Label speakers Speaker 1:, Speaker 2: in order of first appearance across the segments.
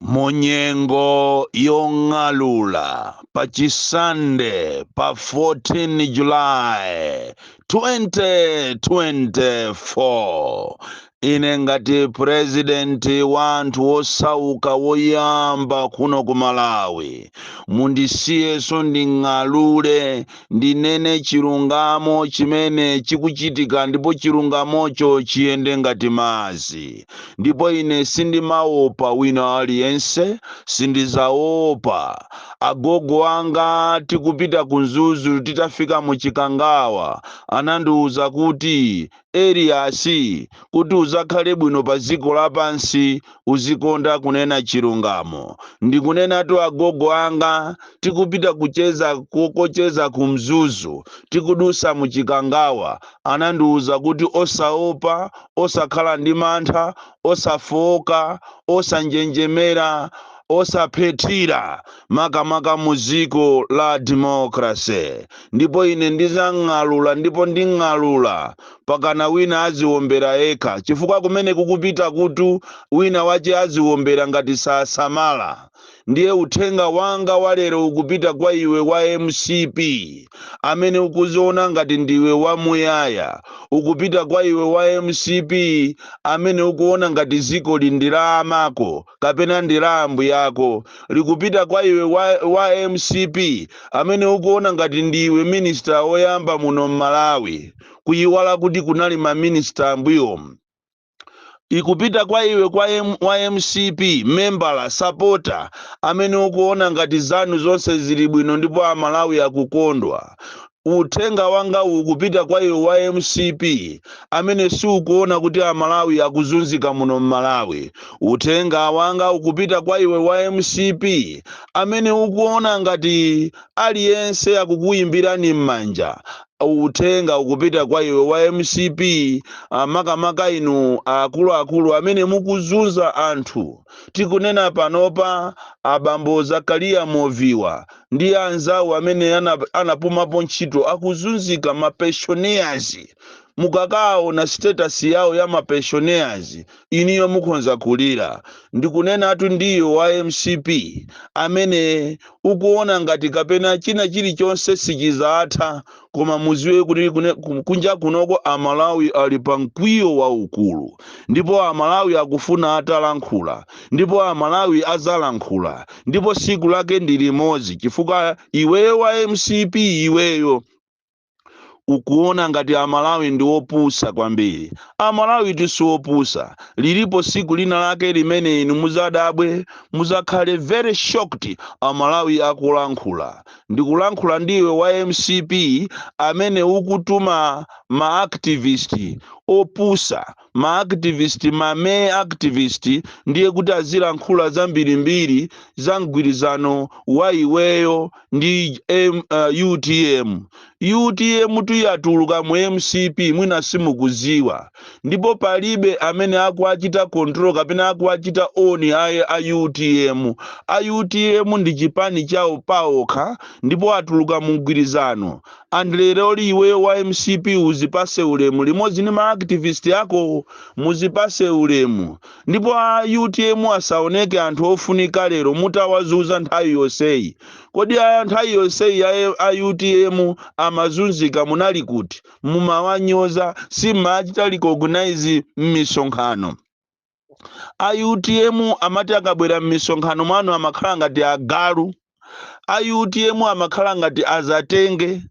Speaker 1: munyengo yong'alula pa chisande pa 14 julayi 2024 ine ngati purezidenti wa anthu wosauka woyamba kuno ku malawi mundisiyenso nding'alule ndinene chilungamo chimene chikuchitika ndipo chilungamocho chiyende ngati madzi. Ndipo ine sindimaopa wina aliyense, sindizaopa. Agogo anga tikupita ku Mzuzu titafika mu Chikangawa anandiuza kuti Elias, kuti udzakhale bwino pa dziko lapansi, uzikonda kunena chilungamo. Ndikunenatu agogo anga, tikupita kucheza kokacheza ku Mzuzu, tikudusa mu Chikangawa, anandiuza kuti osaopa, osakhala ndi mantha, osafooka, osanjenjemera, osaphethira, makamaka mu dziko la democracy. ndipo ine ndizang'alula ndipo nding'alula pakana wina aziwombera yekha chifukwa kumene kukupitaku tu winawake aziwombera ngati sasamala ndiye uthenga wanga walero ukupita kwa iwe wa mcp amene ukuziona ngati ndiwe wamuyaya ukupita kwa iwe wa mcp amene ukuona ngati ziko ili ndi la amako kapena ndi la ambuyako likupita kwa iwe wa, wa mcp amene ukuona ngati ndiwe minister woyamba muno mmalawi kuyiwala kuti kunali ma minister ambuyomu ikupita kwa iwe kwa M, wa mcp membala sapota amene ukuona ngati zanu zonse zili bwino ndipo amalawi akukondwa Uthenga wanga ukupita kwa iwe wa mcp amene siukuona kuti amalawi akuzunzika muno mmalawi. Uthenga wanga ukupita kwa iwe wa mcp amene ukuona ngati aliyense akukuyimbirani mmanja. Uthenga ukupita kwa iwe wa mcp makamaka inu akuluakulu amene mukuzunza anthu. Tikunena panopa abambo Zakaliya Moviwa ndi anzawo amene ana- anapumapo ntchito akuzunzika ma pensioners mukakaona status yawo ya ma pensioners inuyo mukhonza kulira ndikunenatu ndi iwe wa mcp amene ukuona ngati kapena china chilichonse sichizatha koma muziwe kuti kune- ku- kunja kunoko amalawi ali pa mkwiyo waukulu ndipo amalawi akufuna atalankhula ndipo amalawi azalankhula ndipo siku lake ndi limodzi chifukwa iweyo wa mcp iweyo ukuona ngati amalawi ndi opusa kwambiri amalawi si opusa lilipo siku lina lake limene inu muzadabwe muzakhale very shocked amalawi akulankhula Ndikulankhula ndi iwe wa mcp amene ukutuma ma activist opusa, ma activist ma mee activist ndiye kuti azilankhula zambirimbiri za mgwirizano wa iweyo ndi M, uh, utm. Utm tu yatuluka mu mcp mwina simukuziwa ndipo palibe amene akuwachita control kapena akuwachita own ayi a utm. A utm ndi chipani chawo paokha ndipo atuluka mu mgwirizano ndiye leroli iweyo wa mcp uzipase ulemu limodzi ndi ma activist akowo muzipase ulemu ndipo a utm asaoneke anthu ofunika lero mutawazuza nthawi yoseyi Kodi nthawi yonseyi a utm amazunzika munali kuti? Mumawanyoza, simmaachita recognize m'misonkhano. A utm amati akabwera m'misonkhano mwanu amakhala ngati agalu. A utm amakhala ngati azatenge.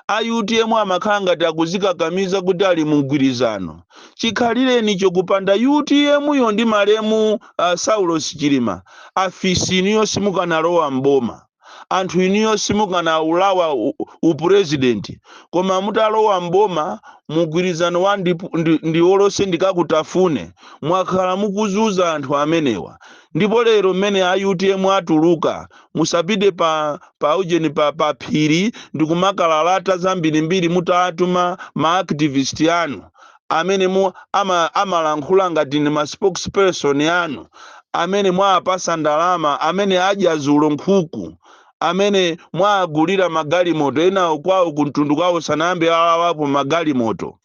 Speaker 1: A utm amakhala ngati akuzikakamiza kuti ali mu mgwirizano. Chikhalirenicho kupanda utm yo ndi malemu uh, Saulos Chilima afisi inuyo simukanalowa m'boma, anthu inuyo simukanaulawa u president koma mutalowa m'boma mugwirizano wa ndi, ndi, ndi wa Tonse Democrat afune mwakhala mukuzuza anthu amenewa ndipo lero mene a utm atuluka musapite pa pa ujeni pa, pa phiri ndikumakalalata zambirimbiri mutatuma ma activist anu amene mu ama, amalankhula ngati ndi ma spokesperson anu amene mwaapasa ndalama amene adya zulo nkhuku amene mwaagulira magalimoto enawo kwawo kumtundu kwawo sanayambe alawapo magalimoto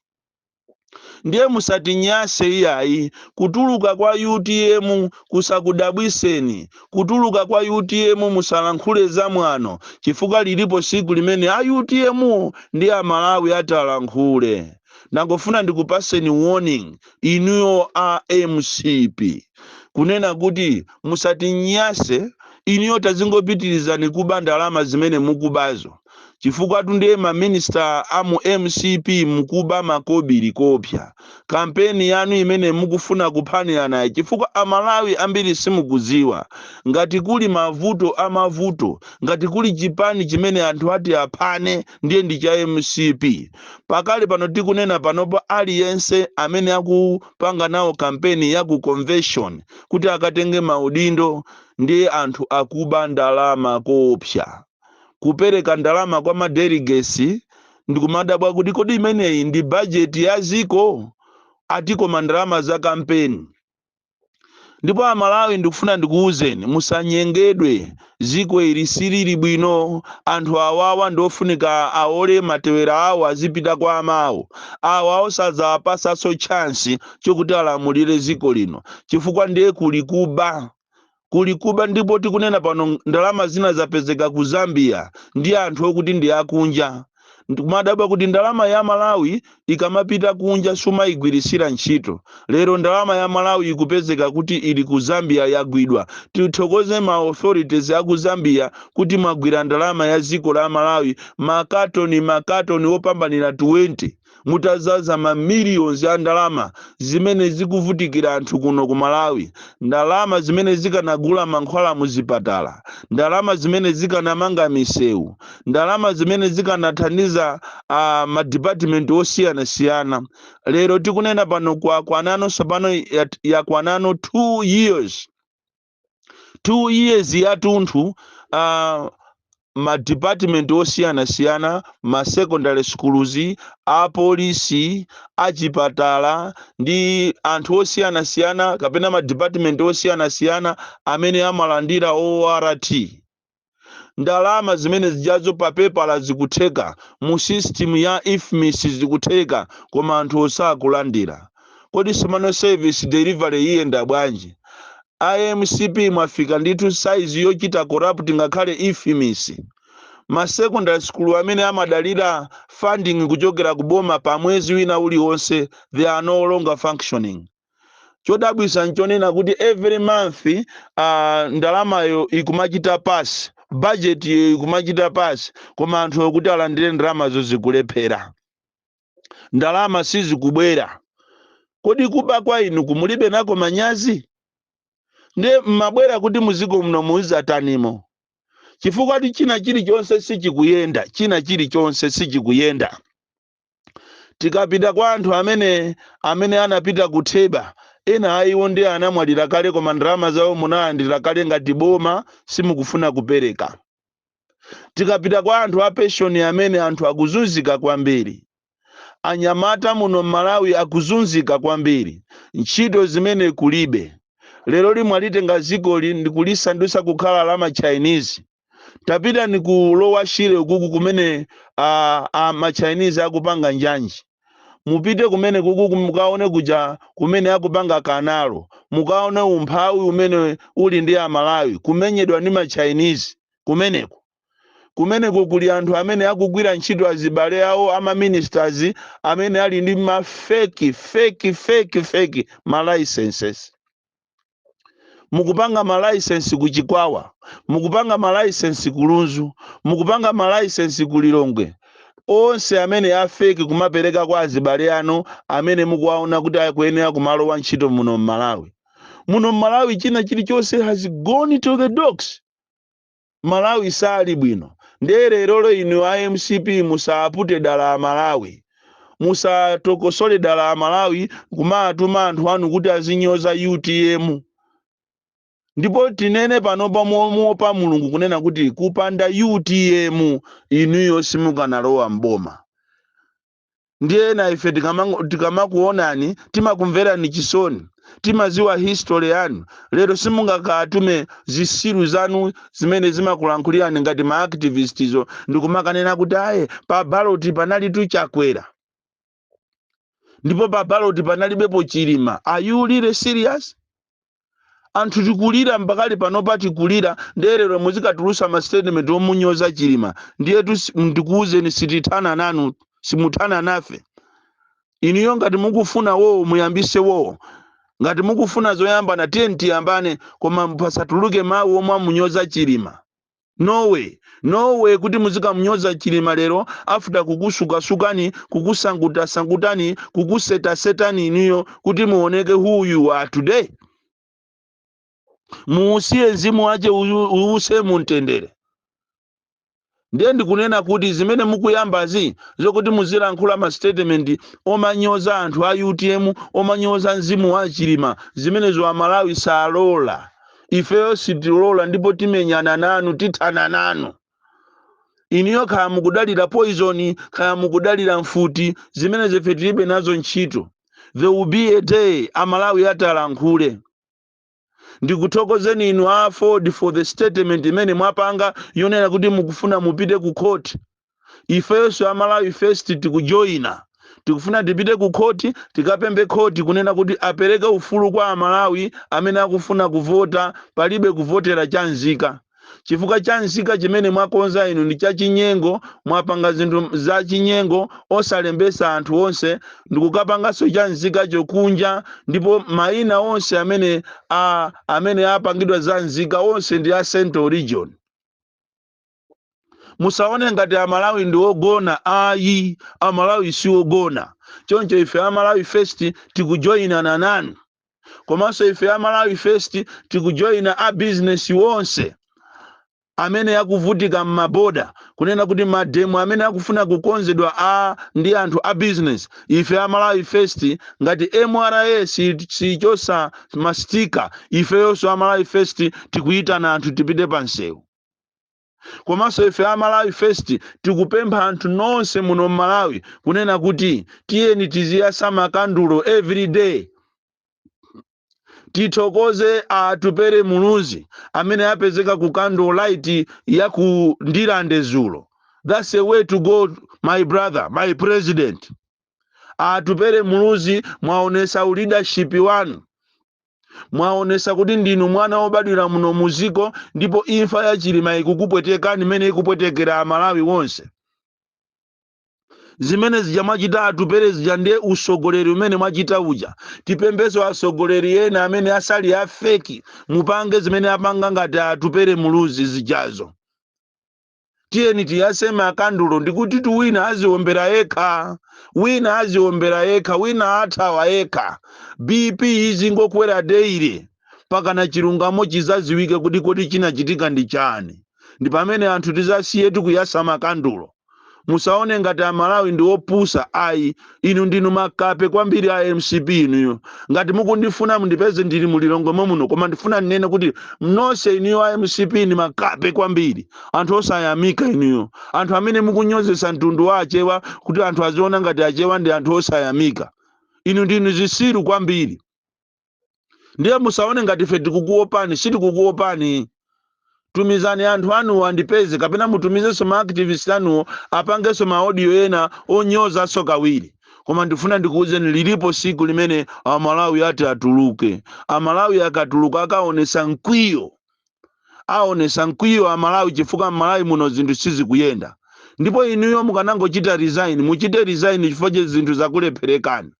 Speaker 1: ndiye musatinyase iyayi kutuluka kwa utm kusakudabwiseni kutuluka kwa utm musalankhule zamwano chifukwa lilipo siku limene a utm wo ndi amalawi atalankhule ndangofuna ndikupaseni warning inuyo a mcp kunena kuti musatinyase inuyo tazingopitirizani kuba ndalama zimene mukubazo chifukwa tu ndiye maminister a mu mcp mukuba makobiri kuopa kampeni yanu imene mukufuna kuphaniranayi chifukwa amalawi ambiri simukuziwa ngati kuli mavuto amavuto ngati kuli chipani chimene anthu ati aphane ndiye ndi cha mcp pakali pano tikunena panopa aliyense amene akupanga nawo kampeni ya ku convention kuti akatenge maudindo ndiye anthu akuba ndalama koopsa kupereka ndalama kwa madeligesi ndikumadabwa kuti kodi imeneyi ndi bajeti ya ziko ati koma ndalama za kampeni ndipo amalawi ndikufuna ndikuwuzeni musanyengedwe ziko ili silili bwino anthu awawa ndiofunika aole matewera awo azipita kwa amawo awa osadzawapasaso chansi chokuti alamulire ziko lino chifukwa ndiye kuli kuba kuli kuba ndipo tikunena pano ndalama zina zapezeka ku Zambia ndi anthu okuti ndi akunja ndikumadabwa kuti ndalama ya Malawi ikamapita kunja sumayigwiritsira ntchito lero ndalama ya Malawi ikupezeka kuti ili ku Zambia yagwidwa tithokoze ma authorities a ku Zambia kuti mwagwira ndalama ya dziko la Malawi makatoni makatoni opambanira 20 mutadzaza ma millions a ndalama zimene zikuvutikira anthu kuno ku Malawi, ndalama zimene zikanagula mankhwala mu zipatala, ndalama zimene zikanamanga misewu, ndalama zimene zikanathandiza uh, ma department osiyanasiyana. Lero tikunena pano kwakwanano tsopano yat- yakwanano 2 years two years yatunthu uh, ma department osiyanasiyana ma secondary schools apolisi achipatala ndi anthu osiyanasiyana kapena ma department osiyanasiyana amene amalandira ort ndalama zimene zijazo pa pepala zikutheka mu system ya ifmis zikutheka koma anthu osakulandira kodi tsopano service delivery iyenda bwanji a mcp mwafika ndithu saizi yochita corrupt ngakhale ifmis ma secondary school amene amadalira funding kuchokera ku boma pa mwezi wina uliwonse they are no longer functioning chodabwisa nchonena kuti every month uh, ndalamayo ikumachita pasi budget yo ikumachita pasi koma anthu kuti alandire ndalamazo zikulephera ndalama sizikubwera kodi kuba kwa inuku mulibe nako manyazi ndiye mmabwera kuti muziko muno muzizatanimo chifukwa kuti china chilichonse sichikuyenda china chilichonse sichikuyenda tikapita kwa anthu amene amene anapita ku theba ena a iwo ndi anamwalira kale koma ndalama zawo munalandira kale ngati boma simukufuna kupereka tikapita kwa anthu a penshoni amene anthu akuzunzika kwambiri anyamata muno m'malawi akuzunzika kwambiri ntchito zimene kulibe leroli mwalitenga zikoli ndikulisandutsa kukhala la ma chinese tapitani ku lower shire ukuku kumene a, a machinese akupanga njanji mupite kumene kuku mukaone kuja kumene akupanga kanalo mukaone umphawi umene uli ndi amalawi kumenyedwa ndi machinese kumeneko kumeneko kuli anthu amene akugwira ntchito azibale awo amaministers amene ali ndi mafeki feki feki feki ma licenses mukupanga malaisensi ku chikwawa mukupanga malaisensi ku lunzu mukupanga malaisensi ku lilongwe onse amene afeki kumapereka kwa azibale anu amene mukuwaona kuti akuyenera kumalowa ntchito muno mmalawi muno mmalawi china chilichonse has gone to the dogs malawi sali bwino ndiye lerolo inu a mcp musapute dala amalawi musatokosole dala amalawi kumatuma anthu anu kuti azinyoza utm ndipo tinene panopa momuopa Mulungu kunena kuti kupanda utm inuyo simukanalowa mboma ndiye ena ife tikama- tikamakuonani timakumverani chisoni timaziwa history yanu lero simungakatume zisiru zanu zimene zimakulankhulirani ngati ma activist izo ndikumakanena kuti aye pa baloti panali tu chakwera ndipo pa baloti panalibepo chilima are you really serious anthu tikulira mpakana panopa tikulira ndiye lero muzikatulusa ma statement omunyoza chilima ndiyetu si- ndikuwuzeni sitithana nanu simuthana nafe inuyo ngati mukufuna wowo muyambise wowo ngati mukufuna zoyambana tiyeni tiyambane koma pasatuluke mawu omwe amunyoza chilima No way, no way kuti muzikamunyoza Chilima lero after kukutsukatsukani, kukusankutasankutani, kukusetasetani inuyo kuti muoneke who you are today. Muusiye mzimu wache uyu- uuse mumtendere. Ndiye ndikunena kuti zimene mukuyambazi zokuti muzilankhula ma statement omanyoza anthu a UTM, omanyoza mzimu wa Chilima, zimenezo Amalawi salola. ifeyo sitilola ndipo timenyana nanu tithana nanu inuyo kaya mukudalira poizoni kaya mukudalira mfuti zimenezo ife tilibe nazo ntchito there will be a day amalawi atalankhule ndikuthokozeni inu a aford for the statement imene mwapanga yonena kuti mukufuna mupite ku court ifenso a malawi first tikujoina tikufuna tipite ku khoti tikapembe khoti kunena kuti apereke ufulu kwa amalawi amene akufuna kuvota palibe kuvotera cha nzika chifukwa cha nzika chimene mwakonza inu ndi chachinyengo mwapanga zinthu zachinyengo osalembesa anthu onse ndikukapanganso cha nzikacho kunja ndipo maina onse amene a, amene apangidwa za nzika onse ndi a central region musaone ngati amalawi ndi ogona ayi amalawi si ogona choncho ife amalawi first tikujoyina nanu komanso ife amalawi first tikujoyina a bizinesi wonse amene akuvutika m'maboda kunena kuti mademo amene akufuna kukonzedwa a ndi anthu a bizinesi ife amalawi first ngati mra siichosa mastika ifeyonso amalawi first tikuyitana anthu tipite pa msewu komanso ife a malawi first tikupempha anthu nonse muno mmalawi kunena kuti tiyeni tiziyatsa makandulo every day tithokoze atupere muluzi amene apezeka ku candle light ya ku ndilande zulo that's the way to go my brother my president atupere muluzi mwaonesa uleadership wanu mwaonesa kuti ndinu mwana wobadwira muno muziko ndipo imfa ya chilima ikukupwetekani imene ikupwetekera amalawi wonse zimene zija mwachita atupere zija ndiye usogoleri umene mwachita uja tipempheso asogoleri ena amene asali afeki mupange zimene apanga ngati atupere muluzi zijazo tiyeni tiyase makandulo ndikuti tu wina aziombera yekha wina aziombera yekha wina athawa yekha bp izingokwera daily pakana chilungamo chizaziwike kuti kodi chinachitika ndi chani ndi pamene anthu tizasiye tikuyasa makandulo musaone ngati amalawi ndi opusa ayi inu ndinu makape kwambiri a mcp inuyo ngati mukundifuna mundipeze ndili mu lilongwe momuno koma ndifuna ndinene kuti nonse inuyo a mcp ndi makape kwambiri anthu osayamika inuyo anthu amene mukunyozesa mtundu wa achewa kuti anthu aziona ngati achewa ndi anthu osayamika inu ndinu zisiru kwambiri ndiye musaone ngati ife tikukuopani sitikukuopani tumizani anthu anuwo andipeze kapena mutumizenso maactivist anuwo apangenso maaudio ena onyozanso kawiri koma ndifuna ndikuwuzeni lilipo siku limene amalawi ati atuluke amalawi akatuluka akaonesa mkwiyo aonesa mkwiyo amalawi chifukwa mmalawi muno zinthu sizikuyenda ndipo inuyo mukanangochita resign muchite resign chifukwa che zinthu zakulepherekani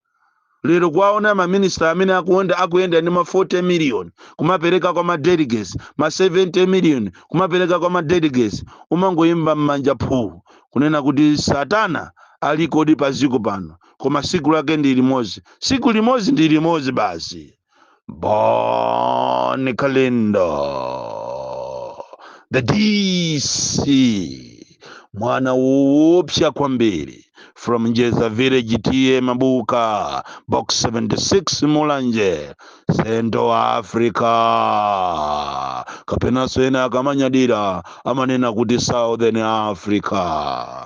Speaker 1: lero kuwaona maminista amene akuyenda akuyenda ndi ma 40 million kumapereka kwa ma delegates ma 70 million kumapereka kwa ma delegates umangowomba mmanja phuu kunena kuti satana alikodi pa dziko pano koma siku lake ndi limodzi siku limodzi ndi limodzi basi Bon Kalindo, the DC, mwana woopsa kwambiri from Njeza Village TA Mabuka, box 76 Mulanje, Central Africa. Kapenanso ena akamanyadira amanena kuti Southern Africa.